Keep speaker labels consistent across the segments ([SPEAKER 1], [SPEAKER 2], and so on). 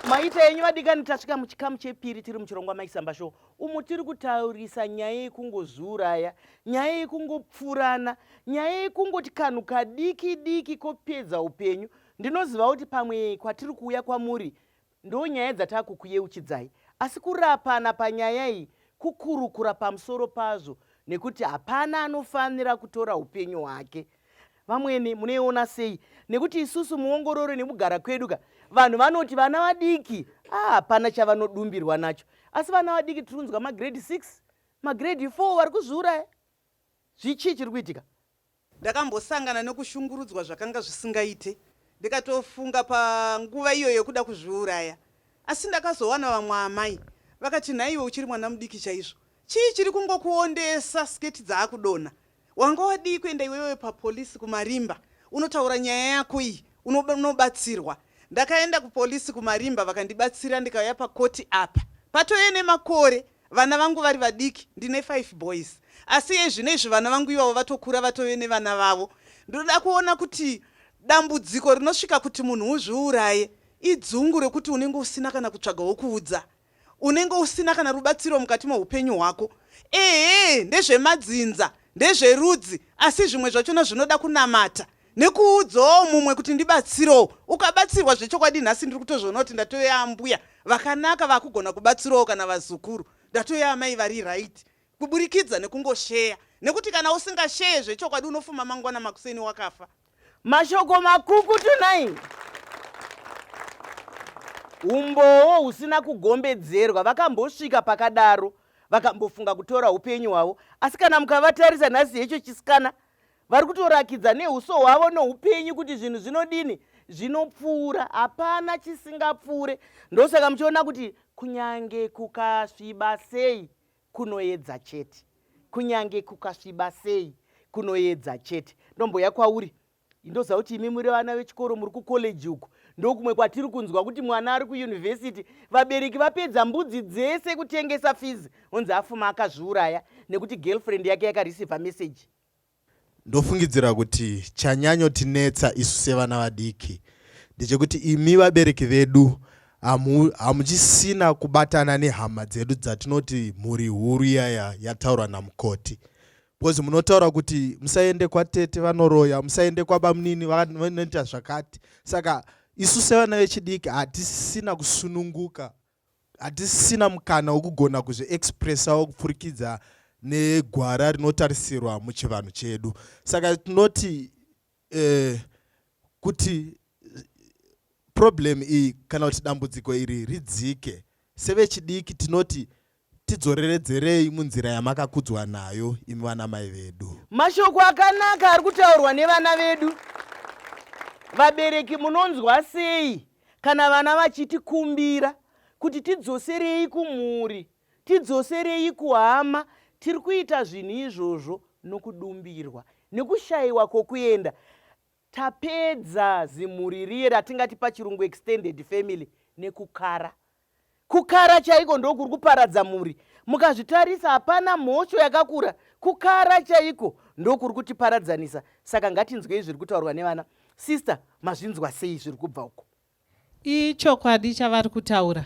[SPEAKER 1] maita yenyu vadikani tasvika muchikamu chepiri tiri muchirongwa maisamba show umo tiri kutaurisa nyaya yekungozviuraya nyaya yekungopfurana nyaya yekungoti kanhu kadiki diki kopedza upenyu ndinoziva kuti pamwe kwatiri kuuya kwamuri Ndonyaya dzatakukuyeuchidzai asi kurapana panyaya iyi kukurukura pamusoro pazvo nekuti hapana anofanira kutora upenyu hwake. Vamwene munoiona sei? Nekuti isusu muongororo nekugara kwedu ka vanhu vanoti vana vadiki ah, hapana ah, chavanodumbirwa nacho asi vana vadiki tiri kunzwa magrade 6 magrade 4 vari kuzviuraya zvichii chiri kuitika Ndakambosangana
[SPEAKER 2] nekushungurudzwa zvakanga zvisingaite ndikatofunga panguva iyoyo yekuda kuzviuraya asi ndakazowana vamwe amai vakati nhaiwe uchiri mwana mudiki chaizvo chii chiri kungokuondesa skirt dzaakudonha wanga wadii kuenda iwewe papolice kumarimba unotaura nyaya yako iyi unobatsirwa ndakaenda kupolice kumarimba vakandibatsira ndikauya pakoti apa patove nemakore Vana vangu vari vadiki ndine five boys asi iye zvino izvi vana vangu ivavo vatokura vatove nevana vavo. Ndinoda kuona kuti dambudziko rinosvika kuti munhu uzviuraye idzungu rekuti unenge usina kana kutsvaga wokuudza. Unenge usina kana rubatsiro mukati meupenyu hwako. Ehe ndezvemadzinza, ndezverudzi asi zvimwe zvachona zvinoda kunamata. nekuudzawo mumwe kuti ndibatsirewo ukabatsirwa zvechokwadi nhasi ndiri kutozviona kuti ndatove ambuya vakanaka vakugona kubatsirawo kana vazukuru ndatove amai vari right kuburikidza nekungosheya nekuti kana usingasheye zvechokwadi unofuma mangwana makuseni wakafa mashoko
[SPEAKER 1] makuku tunaini umbowo husina kugombedzerwa vakambosvika pakadaro vakambofunga kutora upenyu hwavo asi kana mukavatarisa nhasi hecho chisikana vari kutorakidza neuso hwavo noupenyu kuti zvinhu zvinodini zvinopfuura hapana chisingapfuure ndosaka muchiona kuti kunyange kukasviba sei kunoedza chete kunyange kukasviba sei kunoedza chete ndomboya kwauri indoziva kuti imi muri vana vechikoro muri kucollege uku ndokumwe kwatiri kunzwa kuti mwana ari kuyunivhesiti vabereki vapedza mbudzi dzese kutengesa fizi onzi afuma akazviuraya nekuti girlfriend yake yakareceiva message Ndofungidzira
[SPEAKER 3] kuti chanyanyotinetsa isu sevana vadiki ndechekuti imi vabereki vedu hamu, hamuchisina kubatana nehama dzedu dzatinoti mhuri huru iyaya yataurwa namukoti because munotaura kuti musaende kwatete vanoroya musaende kwabamunini vanoita zvakati saka isu sevana vechidiki hatisina kusununguka hatisisina mukana wekugona kuzviexpressawo kupfurikidza negwara rinotarisirwa muchivanhu chedu saka tinoti eh, kuti problem iyi kana kuti dambudziko iri ridzike sevechidiki tinoti tidzoreredzerei munzira yamakakudzwa nayo imi vana mai vedu mashoko akanaka
[SPEAKER 1] ari kutaurwa nevana vedu vabereki munonzwa sei Kana vana vachitikumbira kuti tidzoserei kumhuri, tidzoserei kuhama, tiri kuita zvinhu izvozvo nokudumbirwa, nokushaiwa kwokuenda. Tapedza zimhuri riye ratingati pachirungu extended family nekukara. kukara chaiko ndokuri kuparadza mhuri mukazvitarisa hapana mhosho yakakura kukara chaiko ndokuri kutiparadzanisa saka ngatinzwei zviri kutaurwa nevana sister mazvinzwa sei zviri kubva uko ichokwadi
[SPEAKER 4] chavari kutaura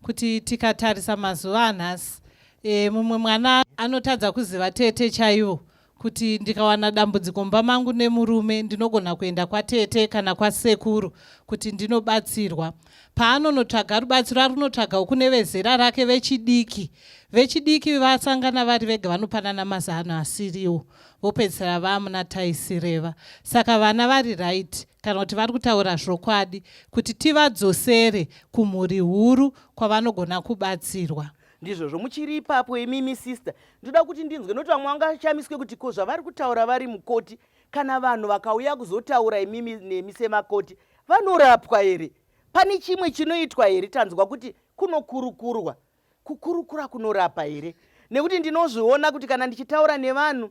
[SPEAKER 4] kuti tikatarisa mazuva anhasi e, mumwe mwana anotadza kuziva tete chaivo kuti ndikawana dambudziko mumba mangu nemurume ndinogona kuenda kwatete kana kwasekuru kuti ndinobatsirwa paanonotsvaga rubatsiro ari kunotsvaga kune vezera rake vechidiki vechidiki vasangana vari vega vanopanana mazano asiriwo vopedzisira vamuna taisireva saka vana vari right kana kuti vari kutaura zvokwadi kuti tivadzosere kumhuri huru kwavanogona kubatsirwa ndizvozvo muchiri
[SPEAKER 1] ipapo imimi sister ndoda kuti ndinzwe noti vamwe vangashamiswe kuti ko zvavari kutaura vari mukoti kana vanhu vakauya kuzotaura imimi nemi semakoti vanorapwa here pane chimwe chinoitwa here tanzwa kuti kunokurukurwa kukurukura kunorapa here nekuti ndinozviona kuti kana ndichitaura nevanhu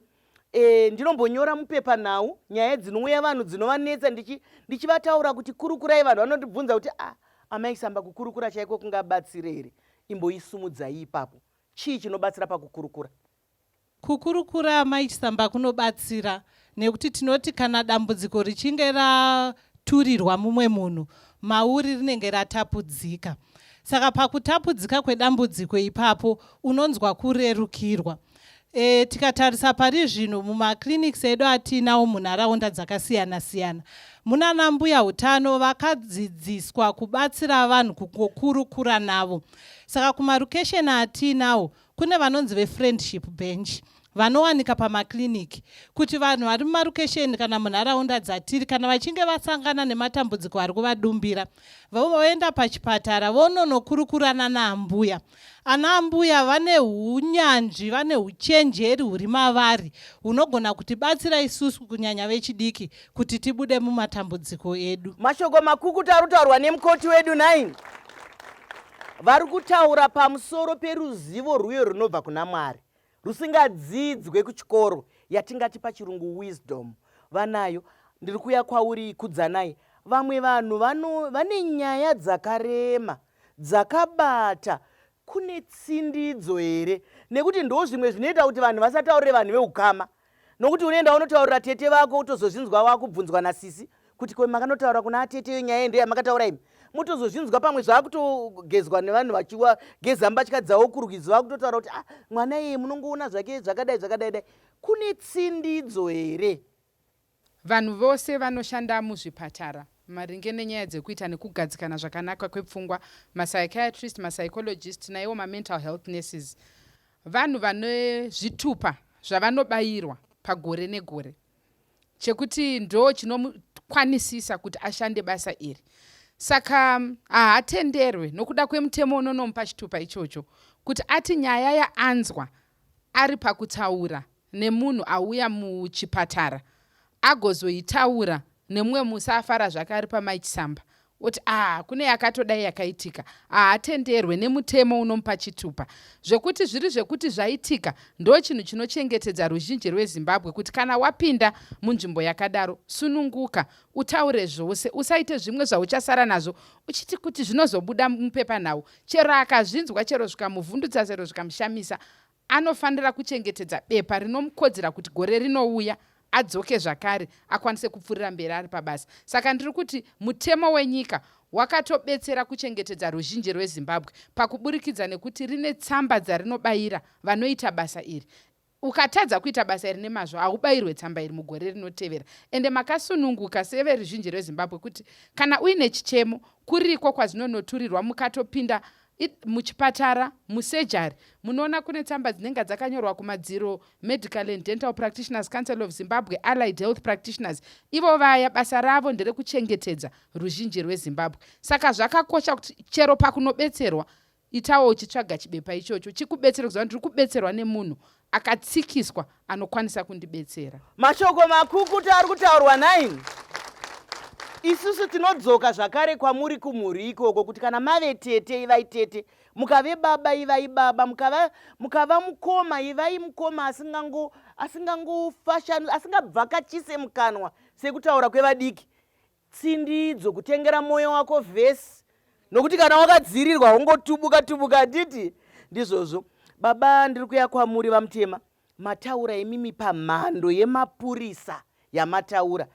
[SPEAKER 1] E, ndinombonyora mupepanhau nyaya dzinouya vanhu dzinovanetsa ndichivataura ndichi kuti kurukurai vanhu vanondibvunza kuti a ah, amai samba kukurukura chaiko kungabatsire here imboisumudzai ipapo chii chinobatsira pakukurukura kukurukura
[SPEAKER 4] amai chisamba kunobatsira nekuti tinoti kana dambudziko richinge ra turirwa mumwe munhu mauri rinenge ratapudzika. Saka pakutapudzika kwedambudziko ipapo unonzwa kurerukirwa. E, tikatarisa pari zvino mumaclinics edu atiinawo munharaunda dzakasiyana siyana munana mbuya utano vakadzidziswa kubatsira vanhu kukurukura navo saka kumarukesheni atiinawo Kune vanonzi vefriendship bench vanowanika pamakiriniki kuti vanhu vari mumarukesheni kana munharaunda dzatiri kana vachinge vasangana nematambudziko ari kuvadumbira voenda pachipatara vononokurukurana naambuya ana ambuya vane unyanzvi vane uchenjeri huri mavari hunogona kuti batsira isusu kunyanya vechidiki kuti tibude mumatambudziko edu mashoko makukuta ari
[SPEAKER 1] kutaurwa nemukoti wedu 9 Vari kutaura pamusoro peruzivo rwuyo runobva kuna Mwari rusingadzidzwe kuchikoro yatingati pachirungu wisdom vanayo ndiri kuya kwauri kudzanai vamwe vanhu vane nyaya dzakarema dzakabata kune tsindidzo here nekuti ndo zvimwe zvinoita kuti vanhu vasataurire vanhu veukama Nokuti unoenda wonotaurira tete vako utozozvinzwa wakubvunzwa nasisi kuti ko makanotaura kuna atete iyo nyaya ndo yamakataura imi mutozozvinzwa pamwe zvakutogezwa nevanhu vachiwa geza mbatya dzawo kurwizi vakutotaura kuti ah mwana iye munongoona zvake zvakadai zvakadai dai kune tsindidzo here Vanhu
[SPEAKER 5] vose vanoshanda muzvipatara maringe nenyaya dzekuita nekugadzikana zvakanaka kwepfungwa, mapsychiatrist, mapsychologist naiwo mamental health nurses, vanhu vane zvitupa zvavanobayirwa pagore negore chekuti ndoochinomukwanisisa kuti ashande basa iri. Saka hahatenderwe nokuda kwemutemo unonomupa chitupa ichocho kuti ati nyaya yaanzwa ari pakutaura nemunhu auya muchipatara agozoitaura nemumwe musi afara zvake ari pamai chisamba oti ah kune yakatodai yakaitika haatenderwe nemutemo unomupa chitupa zvekuti zviri zvekuti zvaitika ndo chinhu chinochengetedza ruzhinji rwezimbabwe kuti kana wapinda munzvimbo yakadaro sununguka utaure zvose usaite zvimwe zvauchasara nazvo uchiti kuti zvinozobuda mupepanhau chero akazvinzwa chero zvikamuvhundutsa chero zvikamushamisa Anofanira kuchengetedza bepa rinomukodzera kuti gore rinouya adzoke zvakare akwanise kupfurira mberi ari pabasa. Saka ndiri kuti mutemo wenyika wakatobetsera kuchengetedza ruzhinji rweZimbabwe pakuburikidza nekuti rine tsamba dzarinobayira vanoita basa iri. Ukatadza kuita basa iri nemazvo haubayirwe tsamba iri mugore rinotevera. Ende makasununguka severuzhinji rweZimbabwe kuti kana uine chichemo kuriko kwazvinonoturirwa mukatopinda muchipatara musejari munoona kune tsamba dzinenge dzakanyorwa kumadziro medical and dental practitioners council of zimbabwe allied health practitioners ivo vaya basa ravo nderekuchengetedza ruzhinji rwezimbabwe saka zvakakosha kuti chero pakunobetserwa itawo uchitsvaga chibepa ichocho chikubetsere kuziva kuti uri kubetserwa nemunhu akatsikiswa anokwanisa kundibetsera mashoko makukuta
[SPEAKER 1] ari kutaurwa nine isusu tinodzoka zvakare kwamuri kumhuri ikoko kuti kana mave tete ivai tete mukave baba ivai baba mukava, mukava mukoma ivai mukoma asingangofashanu asingabvakachise mukanwa sekutaura kwevadiki tsindidzo kutengera moyo wako vhesi nokuti kana wakadzirirwa haungotubuka tubuka handiti ndizvozvo baba ndiri kuya kwamuri vamutema mataura imimi pamhando yemapurisa yamataura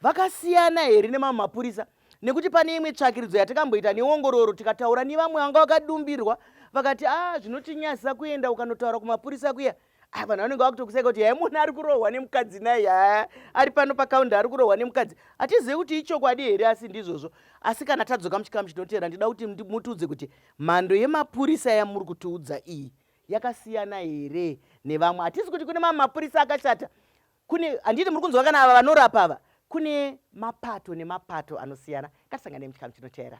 [SPEAKER 1] vakasiyana here nemamwe mapurisa nekuti pane imwe tsvakiridzo yatakamboita neongororo tikataura nevamwe vanga vakadumbirwa vakati a ah, zvinotinyazisa kuenda ukanotaura kumapurisa kuya a ah, vanhu vanenge vakutokuseka kuti yai munhu ari kurohwa nemukadzi naye yaa ari pano pakaunde ari kurohwa nemukadzi hatizivi kuti ichokwadi here asi ndizvozvo asi kana tadzoka muchikamu chinoteera ndida kuti mutiudze kuti mhando yemapurisa yamuri kutiudza iyi yakasiyana here nevamwe hatizi kuti kune mamwe mapurisa akashata kune handiti muri kunzwa kana ava vanorapa ava kune mapato nemapato anosiyana ngatisangane muchikamu chinoteera